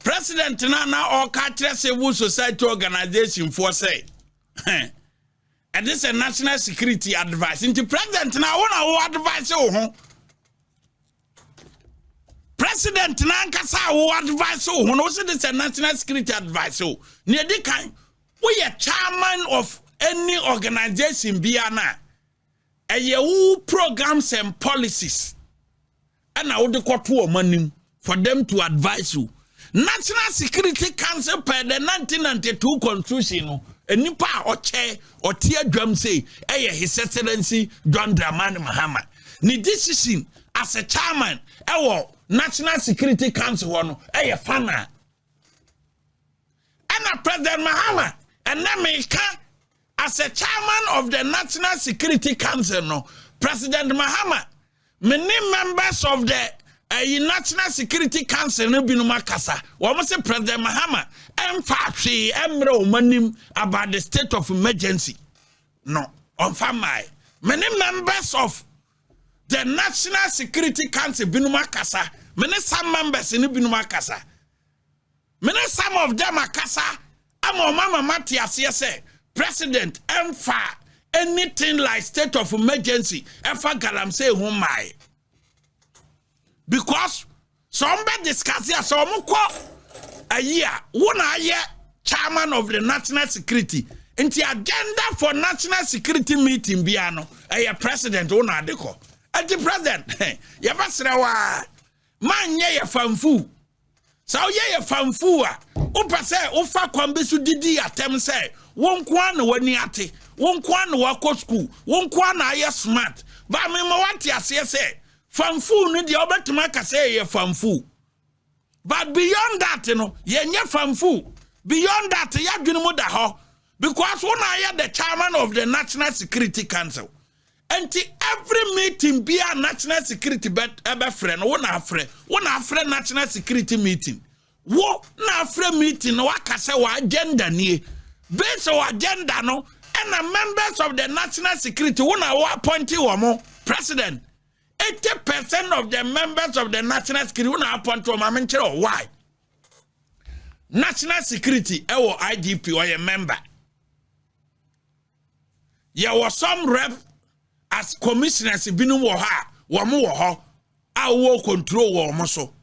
President no a na ɔreka akyerɛ civil society organization foɔ sɛ ɛde sɛ national security advice nti president no a wo na wo advice wo ho president no ankasa a wo advice wo ho no wo se de sɛ national security advice wo nea ɛdi kan woyɛ chairman of any organization biara no a ɛyɛ wo programs and policies ɛna wode kɔto wɔn anim for them to advise you national security council per the 1992 constitution no nipa a ɔkyɛ ɔte adwam sei ɛyɛ his excellency john dramani mahama ne decision as a chairman ɛwɔ national security council hɔ no ɛyɛ fana ɛna president mahama ɛnɛ meka As a chairman of the National Security Council no, President Mahama, me ne members of the ɛyi national security council no binom akasa wɔn sɛ president mahama ɛnfa hwee ɛmmerɛ wɔn anim about the state of emergency no ɔnfa mmae many members of the national security council binom akasa many some members no binom akasa Me ne some of them akasa ama wɔn ama mate aseɛ sɛ president ɛmfa anything like state of emergency ɛfa galamsey ho mmae because sɛ wɔn bɛ discuss a sɛ wɔn kɔ ayi a wo na ayɛ chairman of the national security nti agenda for national security meeting biara no ɛyɛ president wo na ade kɔ ɛti president yɛbɛsrɛ waa ma nyɛ yɛ fanfu Sɛ woyɛ yɛ fanfuu a, wopɛ sɛ wofa kwan bi so didi atɛm sɛ wo nko ara na w'ani ate, wo nko ara na wakɔ sukuu, wo nko ara na ayɛ smart. Baa mema wate aseɛ sɛ fanfuu no deɛ wobɛtumi aka sɛ yɛyɛ fanfuu. But beyond that no, yɛnyɛ fanfuu. Beyond that, yɛadwene mu da hɔ because wo na ayɛ the chairman of the National Security Council. Nti every meeting biara national security bɛ ɛbɛfrɛ no wo na afrɛ wo na afrɛ national security meeting wo na afrɛ meeting na waka sɛ wɔ agenda nie based on agenda no ɛna members of the national security wo na wo appointi wɔ mo president 80 percent of the members of the national security wo na appointi wɔ mo amenkyerɛ wɔ why national security ɛwɔ igp ɔyɛ member yɛwɔ some rep as commissioners binom wɔ hɔ a wɔn wɔ hɔ a wɔwɔ control wɔ wɔn so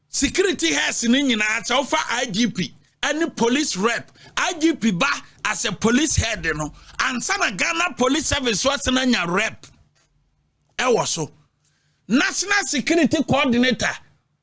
security heads no nyinaa sɛ wofa igp ɛne police rep igp ba as a police head no ansa na ghana police service so asena nya rep ɛwɔ so national security coordinator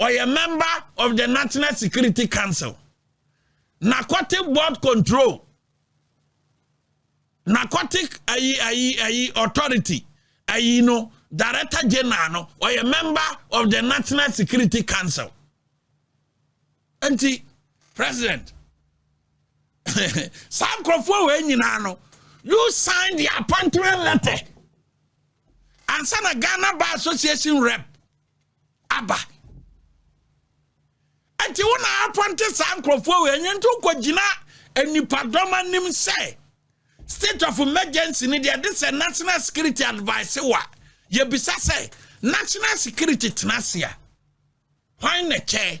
Ɔyɛ member of the National Security Council, Narcotic Board Control, Narcotic ayi ayi ayi Authority, ayi no Director General no, ɔyɛ member of the National Security Council. Nti, President, saa nkurɔfoɔ wɔ nyinaa no, you sign the appointment letter. Ansa na Ghana Bar Association rep aba nti wo na apɔnte saa nkurɔfoɔ wei ɛnyɛ nti wokɔgyina nnipadɔm anim sɛ state of emergency ne deɛ de sɛ national security advice wa yɛbisa sɛ national security tena ase a hwan na kyɛ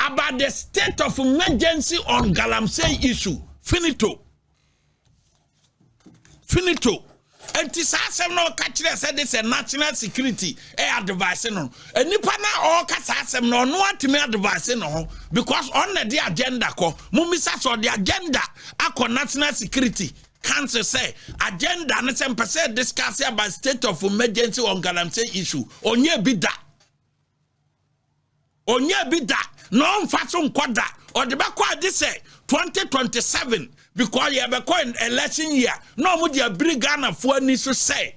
about the state of emergency on galamsey issue finito finito nti saa asɛm na ɔka kyerɛ sɛ de sɛ national security ɛ eh, advice no nipa na ɔka saa asɛm na ɔno atumi advice no ho because ɔn na de agenda kɔ mo misa sɛ ɔde agenda akɔ national security council sɛ agenda no sɛ mpɛ sɛ discuss about state of emergency on galamsey issue ɔnyɛ bi da Ɔnnya bi da na ɔmfa so nkɔ da. Ɔde bɛkɔ agye sɛ 2027 because yɛbɛkɔ election year na ɔmo de abiri Ghanafoɔ ani so sɛ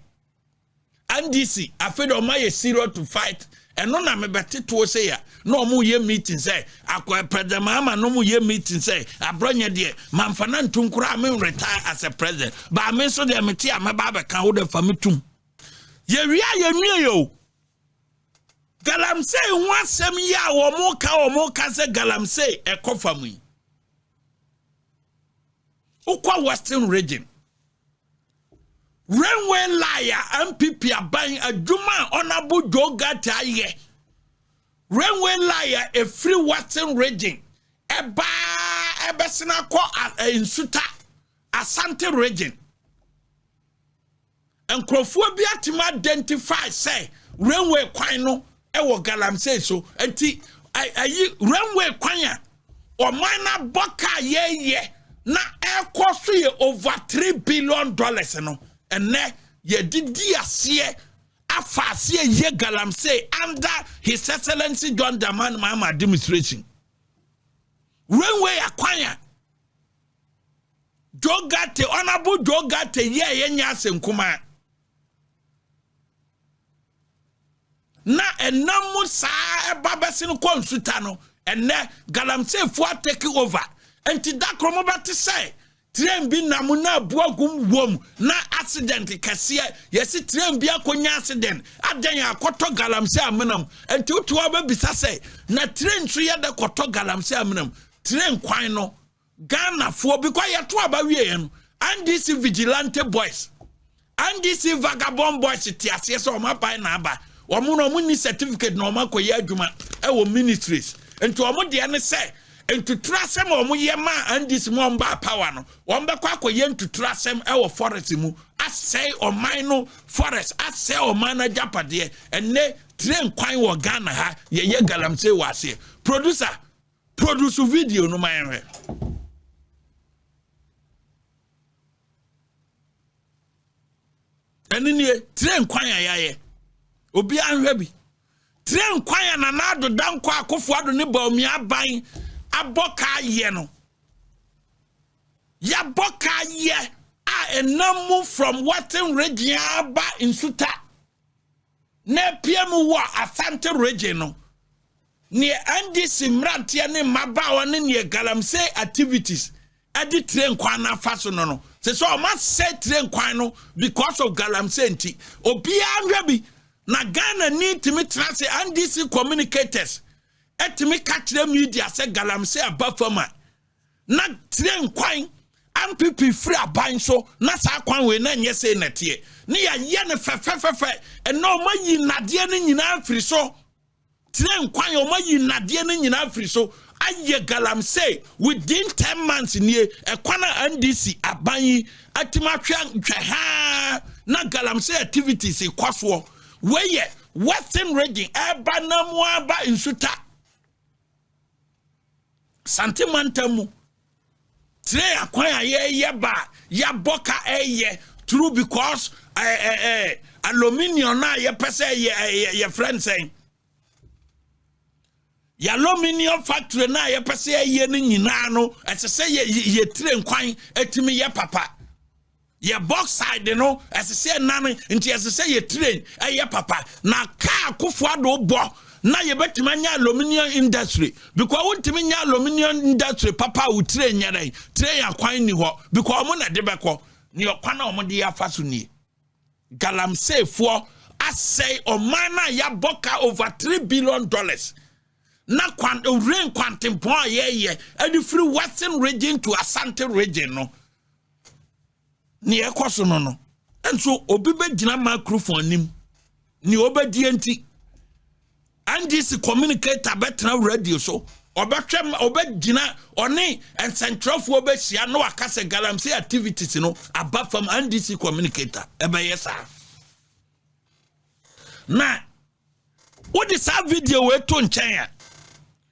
NDC afei de ɔma yɛ serious to fight ɛno na mebɛte toɔ sɛ ya na ɔmo yɛ meeting sɛ akɔ president Mahama na ɔmo yɛ meeting sɛ abrɔnyɛ deɛ mamfa na ntum koraa me retire as a president baa me nso deɛ mete a mɛba abɛka wo de fa me tum yɛwie a yɛnwie yɛ o galamsey ho asɛm yi a wɔn ka wɔn ka sɛ galamsey ɛkɔ fam yi wokɔ western region railway line a npp aban adwuma a ɔnabo joe gata ayɛ railway line a efiri western region ɛbaa ɛbɛsena kɔ nsuta asante region. Nkurɔfoɔ bi atumi identify sɛ rainway kwan no wɔ galamsey so nti ayi rainway kwan a ɔman no abɔ kaa yɛyɛ na ɛkɔ so yɛ over three billion dollars no ɛnɛ yɛde di aseɛ afa aseɛ yɛ galamsey under his excellency john dramani mahama administration rainway akwan a Joe Garte, Honorable Joe Garte yɛ a yɛnyɛ ase nkumaa. Na ɛnam mu saa ɛba bɛsi no kɔ nsuta no, ɛnɛ galamseefoɔ atɛki over. Nti da koro mo bɛte sɛ train bi nam na abu agum wom na accident kɛseɛ yɛsi train bi akɔnya accident adɛn akɔtɔ galamsey amenam nti wotu hɔ bɛbisa sɛ na train nso yɛ dɛ kɔtɔ galamsey amenam train kwan no Ghanafoɔ because yɛto aba wieɛ no NDC vigilante boys NDC vagabond boys te aseɛ sɛ wɔn aban na aba wɔn na wɔn ni certificate na wɔn akɔyɛ adwuma ɛwɔ ministries nti wɔn deɛ ne sɛ ntuturo asɛm a wɔn yɛ maa NDC mu a wɔn baa power no wɔn bɛkɔ akɔyɛ ntuturo asɛm ɛwɔ forest mu asɛe ɔman no forest asɛe ɔman no agyapadeɛ ɛnɛ train kwan wɔ Ghana ha yɛyɛ galamsey wɔ aseɛ producer Produce video no ma yɛnhwɛ. Ɛne nie, tire nkwan a yɛayɛ. Obiara nhwɛ bi. Tire nkwan a Nana Addo Dankwa Akufo-Addo ne Bawumia Aban abɔ kaa yɛ no. Yɛabɔ kaa yɛ a ɛnam mu from Wharton Region aba Nsuta. na apue mu wɔ Asante Region no, neɛ NDC mmeranteɛ ne mmabaawa ne neɛ galamsey activities ɛde train kwan no afa so no no sɛ sɛ ɔma sɛ train kwan no because of galamsey nti obiara nhwɛ bi na Ghana ni tumi tena sɛ NDC communicators ɛtumi ka kyerɛ media sɛ galamsey aba fam a na tire nkwan ampipi firi aban so na saa kwan wei na nyɛ sei na teɛ ne yɛayɛ no fɛfɛfɛfɛ ɛnna wɔn ayi nnadeɛ no nyinaa firi so tire nkwan wɔn ayi nnadeɛ no nyinaa firi so ayɛ galamsey within ten months nie ɛkwan a ndc aban yi atumi ahwɛ nhwɛ haa na galamsey activities kɔ soɔ wei yɛ western region ɛba na mu aba nsuta. Sante mantam mu tire akwan a yɛyɛ ba a yɛabɔ ka ɛyɛ true because ɛɛ eh, ɛɛ eh, aluminium a yɛpɛ sɛ yɛ yɛ yɛfrɛ nsɛn yɛ aluminium factory no a yɛpɛ sɛ yɛyɛ no nyinaa no ɛsɛ sɛ yɛ yɛ tire nkwan ɛtumi yɛ papa. Yɛ bauxite no, ɛsɛ sɛ ɛnane, nti ɛsɛ sɛ yɛ train ɛyɛ papa. Na kaa Akufo Addo bɔ na yɛbɛtumi anya aluminium industry because wontumi nya aluminium industry papa a wo train nyɛ dɛn train akwan nni hɔ because wɔn na ɛde bɛkɔ ne ɔkwan a wɔde afa so nie galamseyfoɔ asɛe ɔman no a yɛabɔ ka over three billion dollars na kwan rain kwantempɔn a yɛyɛ ɛde firi western region to asante region no ne ɛkɔ so no no nso obi bɛgyina microphone anim ne ɔbɛdie nti ndc communicator bɛtena radio so ɔbɛhwɛ ɔbɛgyina ɔne nsɛnkyerɛfoɔ bɛhyia na waka sɛ galamsey activities no aba fam ndc communicator ɛbɛyɛ saa na wode saa video wei to nkyɛn a